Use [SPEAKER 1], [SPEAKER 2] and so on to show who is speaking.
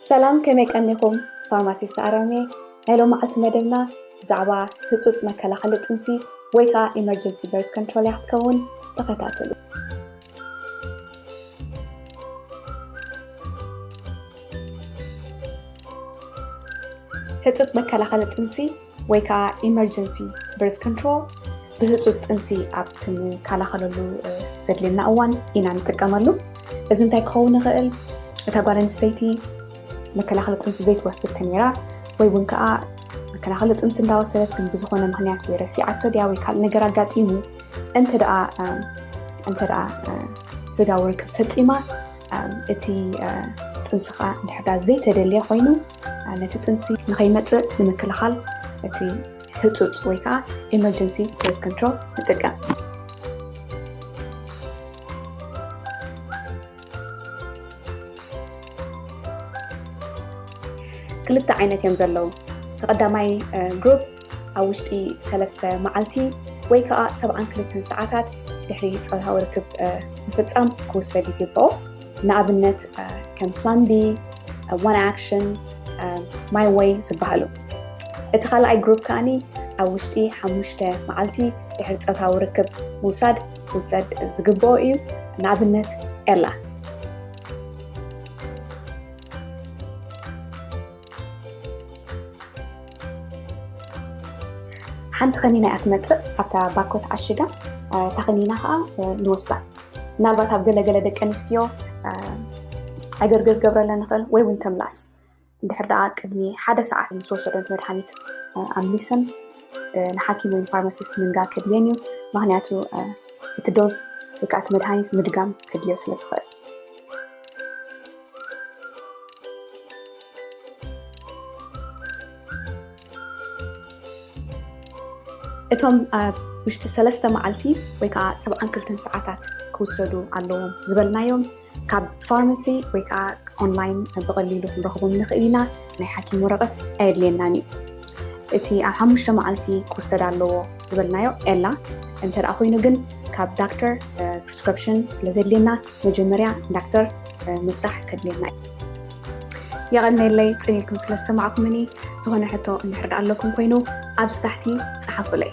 [SPEAKER 1] ሰላም ከመይ ቀኒኹም ፋርማሲስት ኣርያም እየ ናይ ሎማዓልቲ መደብና ብዛዕባ ህፁፅ መከላኸሊ ጥንሲ ወይ ከዓ ኢመርጀንሲ በርዝ ኮንትሮል እያ ክትከውን ተኸታተሉ ህፁፅ መከላኸሊ ጥንሲ ወይ ከዓ ኢመርጀንሲ ብርዝ ኮንትሮል ብህፁፅ ጥንሲ ኣብ ክንከላኸለሉ ዘድልየና እዋን ኢና ንጥቀመሉ። እዚ እንታይ ክኸውን ይኽእል? እታ ጓል ኣንስተይቲ መከላኸሊ ጥንሲ ዘይትወስድ ተነይራ ወይ እውን ከዓ መከላኸሊ ጥንሲ እንዳወሰደት ግን ብዝኾነ ምክንያት ወይ ረሲዓቶ ድያ ወይ ካልእ ነገር ኣጋጢሙ እንተ ደኣ እንተ ደኣ ስጋዊ ርክብ ፈፂማ እቲ ጥንሲ ከዓ እንድሕር ዘይተደልየ ኮይኑ ነቲ ጥንሲ ንኸይመፅእ ንምክልኻል እቲ ህፁፅ ወይ ከዓ ኤመርጀንሲ ቤዝ ኮንትሮል ንጥቀም። ክልተ ዓይነት እዮም ዘለዉ። እቲ ቀዳማይ ግሩፕ ኣብ ውሽጢ ሰለስተ መዓልቲ ወይ ከዓ ሰብዓን ክልተን ሰዓታት ድሕሪ ፆታዊ ርክብ ምፍፃም ክውሰድ ይግብኦ። ንኣብነት ከም ፕላን ቢ ዋን ኣክሽን ማይ ወይ ዝበሃሉ እቲ ካልኣይ ግሩፕ ከዓኒ ኣብ ውሽጢ ሓሙሽተ መዓልቲ ድሕሪ ፆታዊ ርክብ ምውሳድ ክውሰድ ዝግብኦ እዩ ንኣብነት ኤላ ሓንቲ ከኒና እያ ትመፅእ ኣብታ ባኮ ተዓሽጋ እታ ከኒና ከዓ ንወስዳ ምናልባት ኣብ ገለገለ ደቂ ኣንስትዮ ዕግርግር ገብረለን ንኽእል ወይ እውን ተምላስ እንድሕር ደኣ ቅድሚ ሓደ ሰዓት ምስ ወሰደን መድሃኒት ኣምሊሰን ንሓኪም ወይ ፋርማሲስት ምንጋር ከድልየን እዩ ምክንያቱ እቲ ዶዝ ወይ ከዓ እቲ መድሃኒት ምድጋም ከድልዮ ስለ ዝኽእል እቶም ኣብ ውሽጢ ሰለስተ መዓልቲ ወይ ከዓ ሰብዓን ክልተን ሰዓታት ክውሰዱ ኣለዎም ዝበልናዮም ካብ ፋርማሲ ወይ ከዓ ኦንላይን ብቐሊሉ ክንረኽቦም ንኽእል ኢና ናይ ሓኪም ወረቐት ኣየድልየናን እዩ እቲ ኣብ ሓሙሽተ መዓልቲ ክውሰድ ኣለዎ ዝበልናዮ ኤላ እንተ ኮይኑ ግን ካብ ዳክተር ፕሪስክሪፕሽን ስለ ዘድልየና መጀመርያ ዳክተር ምብፃሕ ከድልየና እዩ። የቐነየለይ ፅን ኢልኩም ስለ ዝሰማዕኩምኒ። ዝኾነ ሕቶ እንድሕር ደኣ ኣለኩም ኮይኑ ኣብዚ ታሕቲ ፀሓፉለይ።